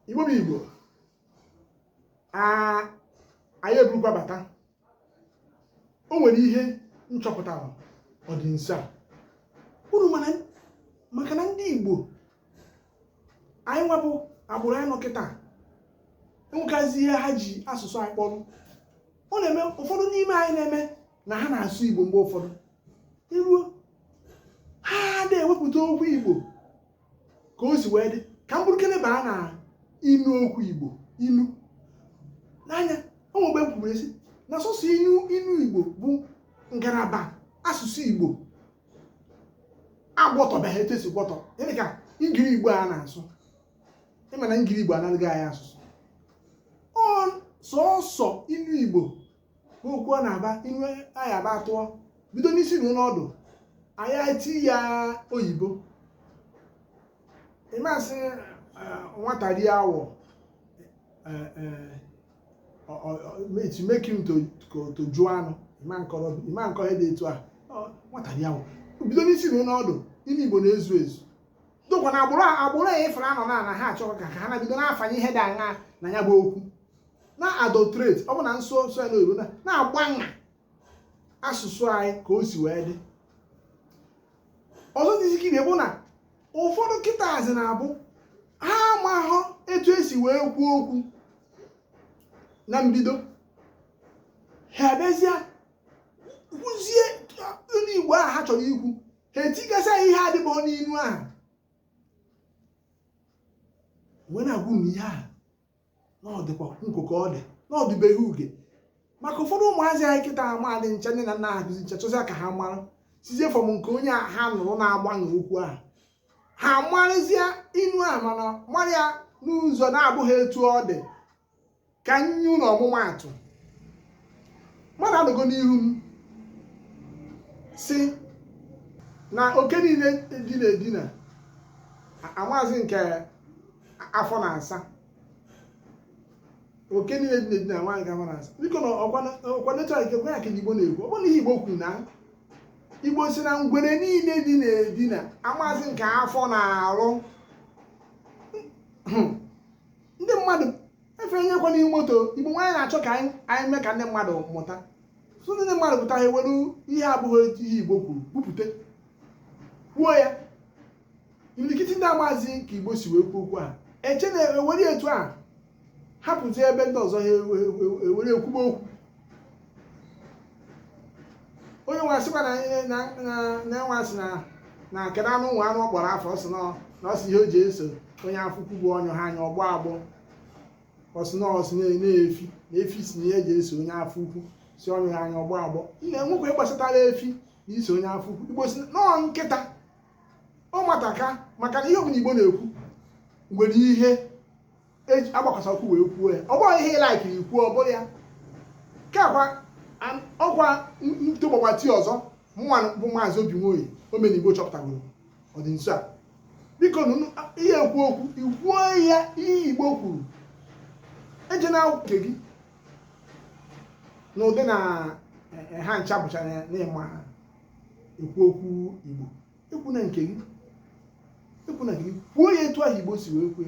igbo bụ igbo anyị eburukwa bata o nwere ihe m chọpụtara ọ dị nso a unu ma na maka na ndị igbo anyị nwa bụ agbụrụ anyị nọ kịta enwekazi ihe ha ji asụsụ anyị kpọrọ ọ na-eme ụfọdụ n'ime anyị na-eme na ha na-asụ igbo mgbe ụfọdụ i ruo ha na-ewepụta okwu igbo ka o si wee dị ka m burukene baa na inu okwu igbo inu n'anya o nwe mgbe m kwuru sị na sọsọ inu inu igbo bụ ngalaba asụsụ igbo agwọtọbeghị etu esi gwọtọ gịnị ka ngiri igbo a na-asụ ị ma na ngiri igbo analịgo anyị asụsụ ọ sọsọ inu igbo okwu a na-aba iwe anyị aba atụọ bido n'isi ruo ọdụ anyị eti ya oyibo ị ma sị nwata rie awọ mechi make him to jụọ anụ ịma nkọ ihe dị etu a nwata rie awọ bido n'isi ruo ọdụ inu igbo na-ezu ezu dokwa na agbụrụ agbụrụ ya ọfụrụ a nọ na na ha achọghị ka ha na-bido na-afanye ihe dị aṅa na ya bụ okwu na-adulterate ọ bụ na m sụọ ya n'oyibo na-agbagha asụsụ anyị ka o si wee dị ọzọ dịzikene bụ na ụfọdụ kịtaazị na-abụ ha amahụ etu esi wee kwuo okwu na mbido ha abịazie kwuzie inu Igbo ahụ ha chọrọ ikwu ha etigasịa ihe adịbụghị n'inu ahụ wee na-agwụ na ihe ahụ na ọ dịkwa nko ka ọ dị na ọ dịbeghị uge maka ụfọdụ ụmụazị anyị kịta amaadị ncha nne na nna ha kụzi ncha chọzịa ka ha mara sizie from nke onye a ha nụrụ na-agbanwe okwu ahụ ha marịzie inu a mana mara ya n'ụzọ na-abụghị etu ọ dị ka m nye unu ọmụmaatụ mmadụ anọgo n'ihu m sị na oke niile dina edina amaazị nke afọ na-asa oke niile dina edina amaazị nke afọ na-asa biko na ọkwa nechọra nke gwa ya ka igbo na-ekwu ọ bụrụ na ihe igbo kwuru na igbo sị na ngwere niile dina edina amaazị nke afọ na-arụ hmm. ndị mmadụ efenyekwa n'ihu moto igbo nwa anyị na-achọ ka anyị mee ka ndị mmadụ mụta so ndị mmadụ pụta ha ewere ihe abụghị ihe igbo kwuru bupụta kwuo ya imirikiti ndị amazi ka igbo si wee kwuo okwu a eche na ewere etu a hapụzi ebe ndị ọzọ ha ewere ekwuba okwu onye nwe asịkwa na enwe asị na na akara anụ nwe anụ ọ kpọrọ afọ ọ sị na ọ sị ihe o ji eso onye afọ ukwu bụ ọ nyụhọ anyụ ọ gbọọ agbọ ọ sị na ọ sị na efi na efi sị na ihe eji eso onye afọ ukwu sị ọ nyụhọ anyụ ọ gbọọ agbọ ị na-enwekwa ihe gbasatara efi na iso onye afọ ukwu igbo sị na ọọ nkịta ọ mataka maka na ihe ọbụla igbo na-ekwu nwere ihe eji agbakwasa okwu wee kwuo ya ọ bụghị ihe ị like na ị kwuo ọ bụrụ ya kakwa an- ọkwa ntụgbọgbati ọzọ mụnwa bụ maazị obi nwoye omenigbo chọpụtagoro ọ dị nso a biko nụnụ ihe ekwu okwu ị kwuo ya ihe igbo kwuru ejina nke gị n'ụdị na eh, eh, ha ncha bụcha na- n'ịma ha ekwu okwu igbo ekwuna nke gị ekwuna nke gị kwuo ya etu ahụ igbo si wee kwue